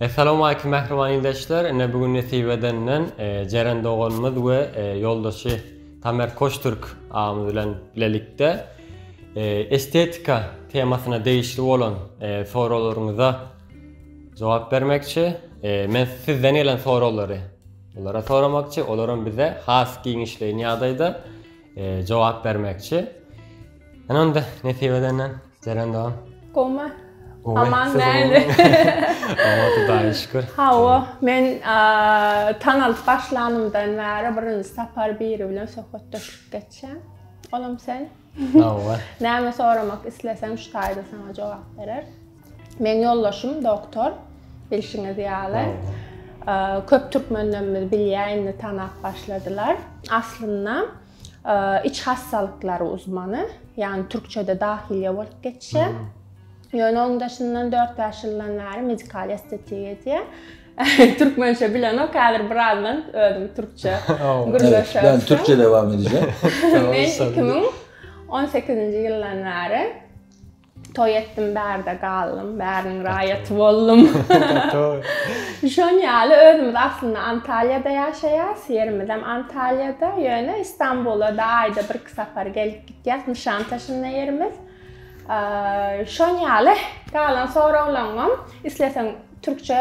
Essalowmalikim mähriban ildeşler ine bu gün nesip edenden Jeren doganymyz we ýoldaşy Tamer Koçtürk agamyz bilen bilelikde estetika temasyna degişli bolan soraglaryňyza jogap bermekçi men sizden gelen soraglary olara soramakçy olaram bize has giňişleýin ýagdaýda jogap bermekçi ine onda nesip edenden Seren da. Goma. Aman näli. Aman Hudaýa şükür. Hawa, men tanalyp başlanymdan bäri birinji sapar biri bilen söhbetdeşlik geçýän. Olam sen. Hawa. Näme soramak isleseň şu taýda sana jogap berer. Men ýoldaşym doktor bilşiňiz ýaly. Köp türkmenlerimiz bilýär indi tanap başladylar. Aslynda iç hassalyklary uzmany, ýagny türkçede dahiliýe bolup geçýär. Ýöne onuň daşyndan 4-5 ýyldan bäri medikal estetik edýär. Türkmençe bilenok, häzir birazdan özüm türkçe gürleşerim. Ben türkçe devam edeceğim. Men 2018-nji ýyldan bäri Toý etdim, bärde galdym, bäriniň raýaty boldum. Şon ýaly özümiz aslynda Antalýada ýaşaýas, ýerimizem Antalýada, ýöne Istanbula da aýda birki sapar gelip gitýäs, Nişantaşynda ýerimiz. Şon ýaly galan soraglaňam isleseň türkçe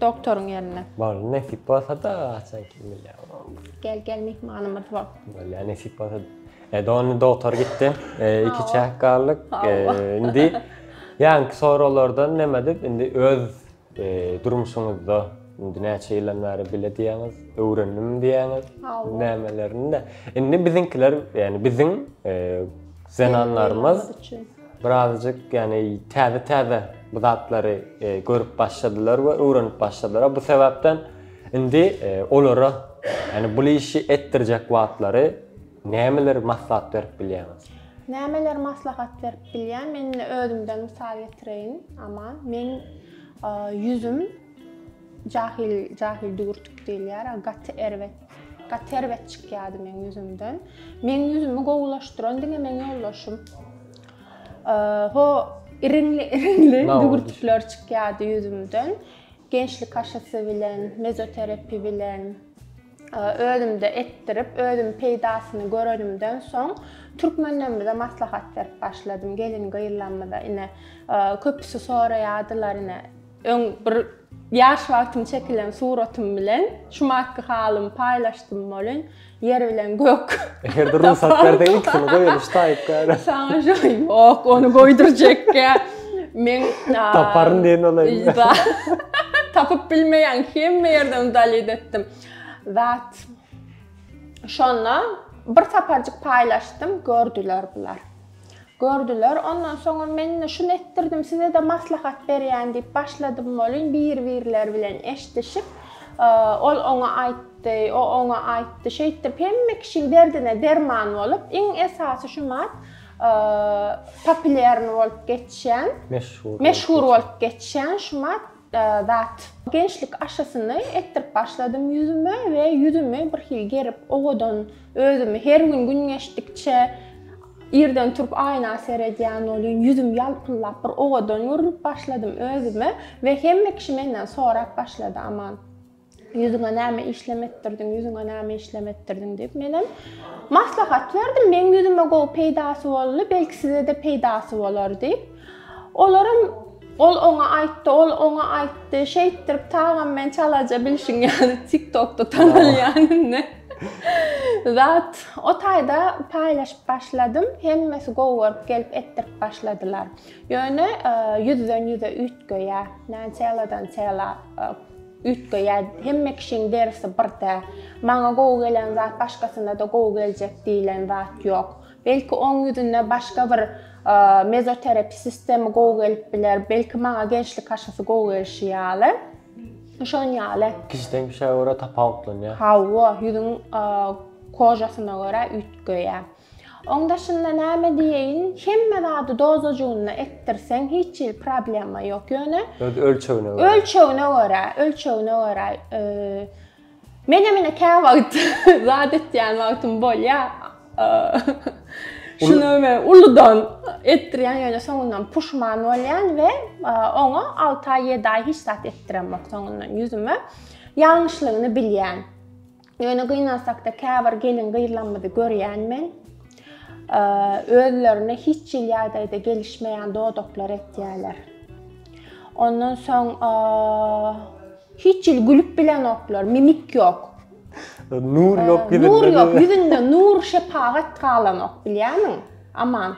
Doktoryň ýerine. Bar, nesip bolsa-da haçan kim bilýär. Gel, gel myhmanymyz bol. Bolýar, nesip bolsa. E, dogany doktor gitdi. E, iki çäk galdyk. E, indi ýaňky soraglardan näme dip, indi öz e, durmuşyňyzda indi näçe ýyldan bäri bile diýýäňiz, öwrendim diýýäňiz, nämelerini-de. Indi biziňkiler, ýani biziň e, zenanlarymyz Birazjyk, ýagny täze-täze bu zatlary e, görüp başladylar we öwrenip başladylar. Bu sebäpden indi e, olara ýagny bu işi etdirjek wagtlary nämeler maslahat berip bilýäňiz? Nämeler maslahat berip bilýän? Men özümden mysal getireýin. Aman, men e, ýüzüm Jahyl jahyl düwürtik diýilýär, gaty erbet. Gaty erbet çykýardy meň ýüzümden. Meň ýüzümi gowulaşdyran diňe meň ýoldaşym. Ho, iriňli iriňli düwürtikler çykýardy ýüzümden. Gençlik aşysy bilen, mezoterapi bilen özümde etdirip, özüm peýdasyny görenimden soň türkmenlerimize maslahat berip başladym. Gelin gyzlarymyza ine köpüsi soraýardylar ine Öň bir ýaş wagtym çekilen suratym bilen şu maky halymy paýlaşdym welin, ýer bilen gök. Eger-de rugsat berseň ikisini goýalyş taýyp gäre. Saňa şo ýok, ony goýdurjekkä. Men Taparyn diýen olaýyn. Tapyp bilmeýän hemme ýerden dalit etdim. Zat şonda bir saparjyk paýlaşdym, gördüler bular. Gördüler. Ondan soňam men-de şuny etdirdim, size-de maslahat berýän diýip başladym welin, bir-birleri bilen eşdişip, ol oňa aýtdy, o oňa aýtdy. Şeýtdip, hemme kişiň derdine derman bolup, iň esasy şu mat populýarny bolup geçýän, meşhur bolup geçýän şu mat Zat. Gençlik aşysyny etdirip başladym ýüzüme we ýüzümi birhili gerip, owadan özümi her gün gün geçdikçe irden turup aýna seredýän welin ýüzüm ýalpyldap bir owadan görnüp başladym özüme we hemme kişi menden sorap başlady Aman. Ýüzüňe näme işlem etdirdiň, ýüzüňe näme işlem etdirdiň diýip, menem maslahat berdim. Meň ýüzüme gowy peýdasy boldy, belki size-de peýdasy bolar diýip. Olaram ol oňa aýtdy, ol oňa aýtdy. Şeýtdirip tagam men çalaja bilşiň ýaly TikTokda tanalýan indi. Zat o taýda paýlaşyp başladym. Hemmesi gowy görüp gelip etdirip başladylar. Ýöne ýüzden ýüze üýtgeýär. Näçe ýyladan çyla Üýtgeýär. Hemme kişiň derisi bir däl. Maňa gowy gelen zat başgasyna-da gowy geljek diýlen zat ýok. Belki oň ýüzünde başga bir mezoterapi sistemi gowy gelip biler, belki maňa gençlik aşysy gowy gelşi ýaly. Şon ýaly. Kişiden kişä görä tapawutlanýar. Hawa, ýüzüň kožasyna görä üýtgeýär. Oň daşynda näme diýeýin hemme zady dozajygynda etdirseň hiç hili problema ýok ýöne öz ölçegine görä ölçegine görä ölçegine görä men hem ine kä wagt zat etýän wagtym bolýa şunu men uludan etdirýän ýöne soňundan puşman bolýan we oňa 6 aý 7 aý hiç zat etdiremok soňundan ýüzüme ýalňyşlygyny bilýän Ýöne gynansakda käbir gelin-gyzlarymyzy görýän men, özlerine hiç hil ýagdaýda gelişmeýän dodaklar etýärler. Ondan soň hiç hil gülüp bilenoklar, mimik ýok. Nur ýok ýüzünde. Nur ýok ýüzünde, nur şepagat galanok, bilýärmiň? Aman.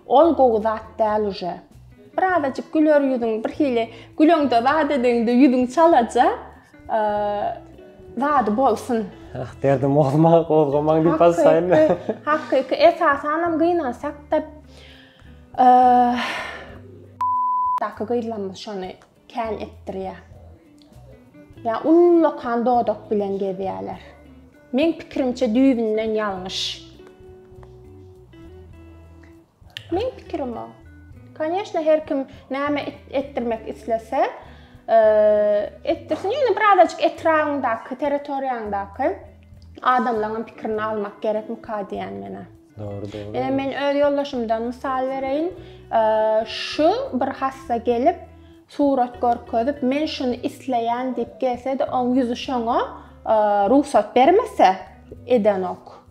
Ol gowy zat däl uje. Birazajyk güler ýüzüň birhili güleňde zat edeňde ýüzüň çalaja zady bolsun. Ah derdim bolma gozgamaň diýip basaýyn. Hakyky esasanam gynansak da daky gyzlarymyz şony Kän etdirýär. Ýa ullakan dodak bilen gezýärler. Meň pikirimçe düýbünden ýalňyş. Meň pikirim o. Koneşna her kim näme etdirmek islese, etdirsin. Ýöne birazajyk etrabyňdaky, territoriýaňdaky adamlaryň pikirini almak gerekmika diýýän menä. Dogry, dogry. Ee, men öz ýoldaşymdan mysal bereýin. Ee, şu bir hassa gelip, surat görkezip, men şuny isleýän diýip gelse-de, oň ýüzi şoňa ee, rugsat bermese, edenok.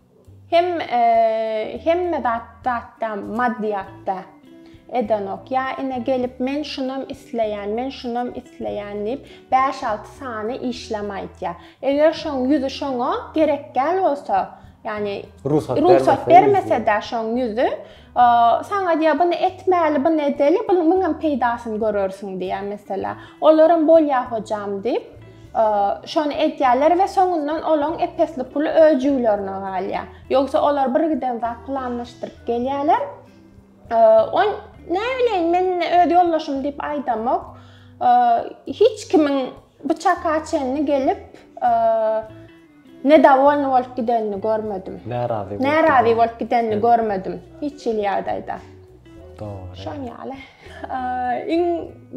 Hem ee, hemme zat, zatda, maddyýatda. edenok. Ýa ine gelip men şunam isleýän, men şunam isleýän diýip, bäş-alty sany işlem aýtýar. Eger şoň ýüzi şoňa gerekgäl bolsa, ýagny rugsat bermese-de şoň ýüzi, saňa diýýär, buny etmäli, buny edeli, bunuň müňem peýdasyny görersiň diýýär meselä. Olaram bolýar hojam diýip, şony edýärler we soňundan olaň ep-esli puly öz jüwlerine galýar. Ýogsa olar birgiden zat planlaşdyryp gelýärler. Ony, näbileýin, men öz ýoldaşym diýip aýdamok. Hiç kimiň bu çaka çenli gelip, nedowolnyý bolup gidenini görmedim. Närazy. Närazy bolup gidenini görmedim hiç hili ýagdaýda. Dogry. Şoň ýaly. Iň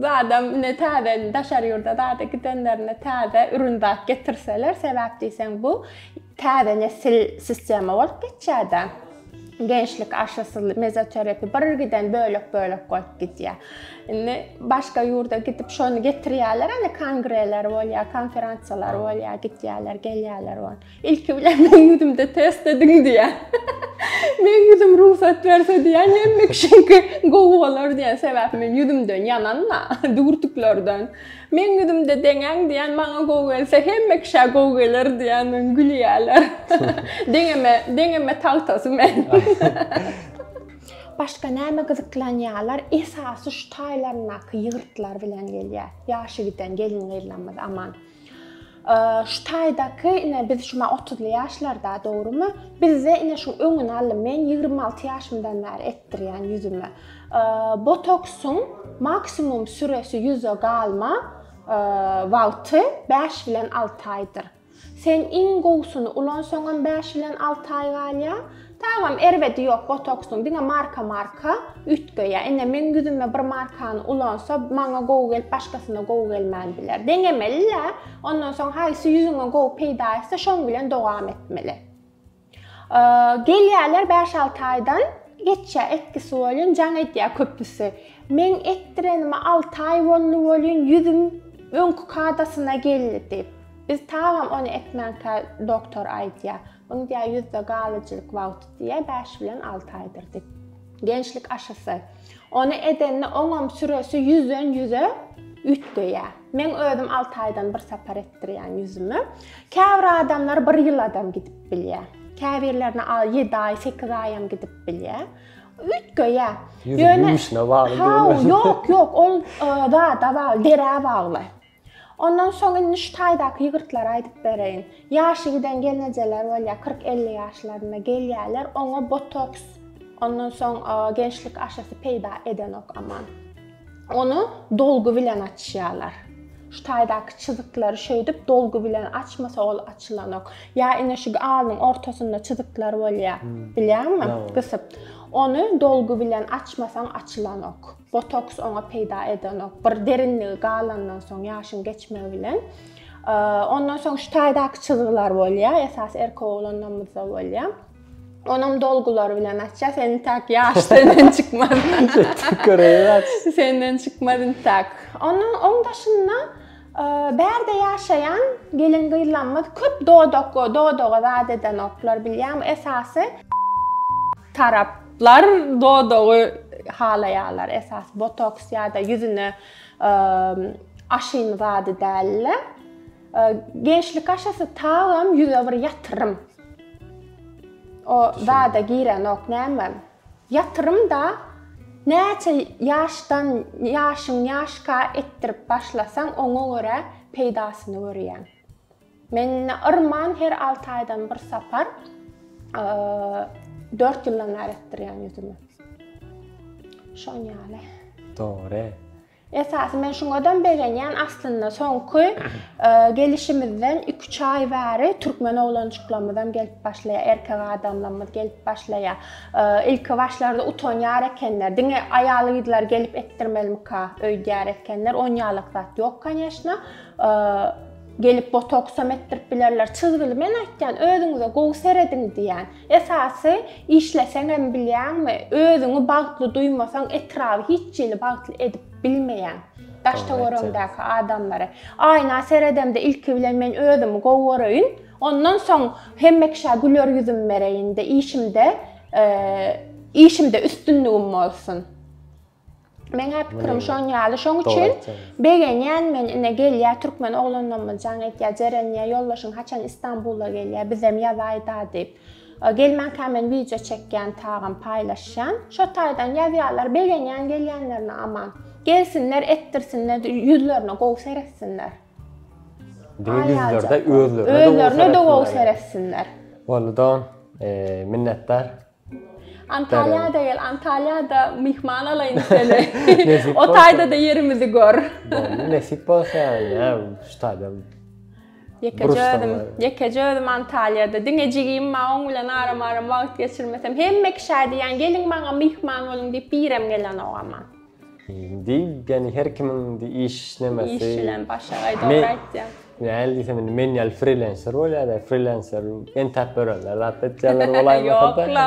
zadam ine täze daşary ýurda zada gidenlerine täze ürün zat getirseler, sebäp diýseň bu Täze nesil sistema bolup geçýärde. Gençlik aşysy, mezoterapi bir giden bölek bölek bolup gidýär. Indi başga ýurda gidip şony getirýärler, indi kongreler bolýar, konferensiýalar bolýar, gidýärler, gelýärler on. Ilki bilen men ýüzümde test ediň diýär. Men ýüzüm rugsat berse diýän, hemme kişiňki gowy bolar diýän sebäp men ýüzümden ýananma, dürtüklerden. Meň ýüzümde deňäň diýän maňa gowy gelse hemme kişä gowy geler diýän men gülýäler. Deňeme deňeme tagtasy men. Başga näme gyzyklanýalar esasy şu taýlaryndaky ýygyrtlar bilen gelýä ýaşy giden gelin gyzlarymyz aman. Şu taýdaky ine biz şuma otuzly ýaşlarda dogrymy? Bizde ine şu öňüni alym men ýigrimi alty ýaşymdan bäri etdirýän ýüzüme. Botoksyň maksimum süresi ýüze galma wagty bäş bilen alty aýdyr. Sen iň gowusyny ulansaňam bäş bilen alty aý galýar, Tagam erbedi ýok botoksyň diňe marka marka üýtgeýä ine meň ýüzüme bir markany ulansa maňa gowy gelip başgasyna gowy gelmän biler deňemelilä ondan soň haýsy ýüzüňe gowy peýda etse şoň bilen dogam etmeli gelýäler bäş alty aýdan geçýä etkisi bolýun jaň edýä köpüsi meň etdirenime alty aý boldy bolýun ýüzüm öňki kadasyna geldi diýip biz tagam ony etmänkä doktor aýdýa Muny diýýär ýüzde galyjylyk wagty diýýär bäş bilen alty aýdyr diýip. Gençlik aşysy. Ony edende oňam süresi ýüzden ýüze üýtgeýär. Meň özüm alty aýdan bir sapar etdirýän ýüzümi. Käbir adamlar bir ýyladam gidip bilýär. Käbirlerine al ýedi aý, sekiz aýam gidip bilýär. Üýtgeýär. Ýüzüň ýumuşyna bagly diýilýär. Ýok, ýok, ol zada bagly, derä bagly. Ondan soň indi şu taýdaky ýygyrtlary aýdyp bereýin. Ýaşy giden gelnejeler bolýar, kyrk-elli ýaşlarynda gelýärler, oňa botoks, ondan soň gençlik aşysy peýda edenok aman. Ony dolgy bilen açýarlar. Şu taýdaky çyzyklary şeýdip dolgy bilen açmasa ol açylanok. Ýa ine şu alnyň ortasynda çyzyklar bolýar, bilýäňmi? Gysyp. Ony dolgy bilen açmasaň açylanok. Botoks oňa peýda edenok. Bir derinligi galandan soň ýaşyň geçmegi bilen. Ondan soň şu taýdaky çyzgylar bolýar, esas erkek oglanlarymyzda bolýar. Onam dolgular bilen açya, senin tak yaş senden çıkmaz. senden çıkmaz tak. Onun on daşında e, berde yaşayan gelin kıylanmaz köp doğdok doğdoğa zat eden oklar bilyam esası Taraplar dodagy halaýarlar, esasy botoks ýa-da ýüzüne aşyny zady däl-de. Gençlik aşysy tagam ýüze bir ýatyrym. O zada girenok näme? Ýatyrym-da näçe ýaşdan, ýaşyň ýaşka etdirip başlasaň, oňa görä peýdasyny görýäň. Mende yrman her alty aýdan bir sapar dört ýyldan bäri etdirýän ýüzümi. Şoň ýaly. Dogry. Esasy men şuňadam begenýän aslynda soňky gelişimizden 2-3 aý bäri türkmen oglanjyklarymyzam gelip başlaýar, erkek adamlarymyz gelip başlaýar. Ilki başlarda utanýar ekenler. Diňe aýal gyzlar gelip etdirmelmika öýdýär ekenler. Onýalykzat ýok, konýeşna. Gelip botoksam etdirip bilerler. Çyzgyly men aýtýan özüňize gowy serediň diýýän. Esasy işleseňem bilýäňmi, özüňi bagtly duýmasaň etraby hiç hili bagtly edip bilmeýäň. Daştöweregiňdäki adamlary. Aýna seredemde ilki bilen men özümi gowy göreýin, ondan soň hemme kişä güler ýüzüm bereýin-de, işimde işimde üstünligim bolsun. Meňä pikirim şon ýaly şoň üçin begenýän men ine gelýä türkmen oglanlammyz jaň etýä jerenýä ýoldaşyň haçan istanbula gelýä bizem ýazaýda diýip gelmänkä men wideo çekýän tagam paýlaşýan şo taýdan ýazýalar begenýän gelýänlerine aman gelsinler etdirsinler ýüzlerine gowy seretsinler ýüzlerde özlerine özlerine de gowy seretsinler bolly dogan minnetdar Antalýada gel, Antalýada myhman alaýyn seni. O taýda-da ýerimizi gör. Nesip bolsa, ýa, şu taýda. Ýekeje özüm, ýekeje özüm Antalýada. Diňe jigim bar, oň bilen aram-aram wagt geçirmesem. Hemme kişä diýýän, geliň maňa myhman boluň diýip, birem gelenok emma. Diýip ýani her kimiň diýip iş işlemesi. Iş bilen başa gaý dogry aýtýaň. Näl diýsem indi men ýaly frilenser bolýada frilenser entäp örenler zat etýänler bolaýmasada. Ýok la.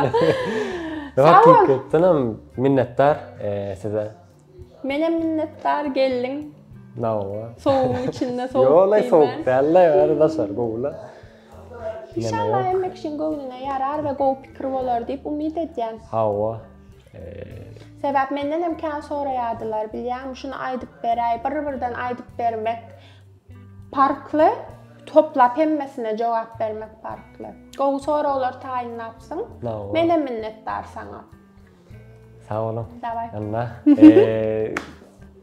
Hakykatdan hem minnetdar size. Menem minnetdar geldiň. Nawa. Sowugyň içinde sowuk. Ýok la sowuk däl la ýary daşary gowy la. Inşallah hemme kişiň göwnüne ýarar we gowy pikir bolar diýip umyt edýän. Hawa. Sebäp menden hem kän soraýardylar, bilýäňmi, şuny aýdyp beräý, bir-birden aýdyp bermek parkly, toplap hemmesine jogap bermek parkly. Gowy soraglar taýynlapsyň. Men hem minnetdar saňa. Sag boluň. Daway. Anna.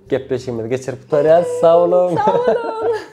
Gepleşigimizi geçirip gutarýas. Sag boluň. Sag boluň.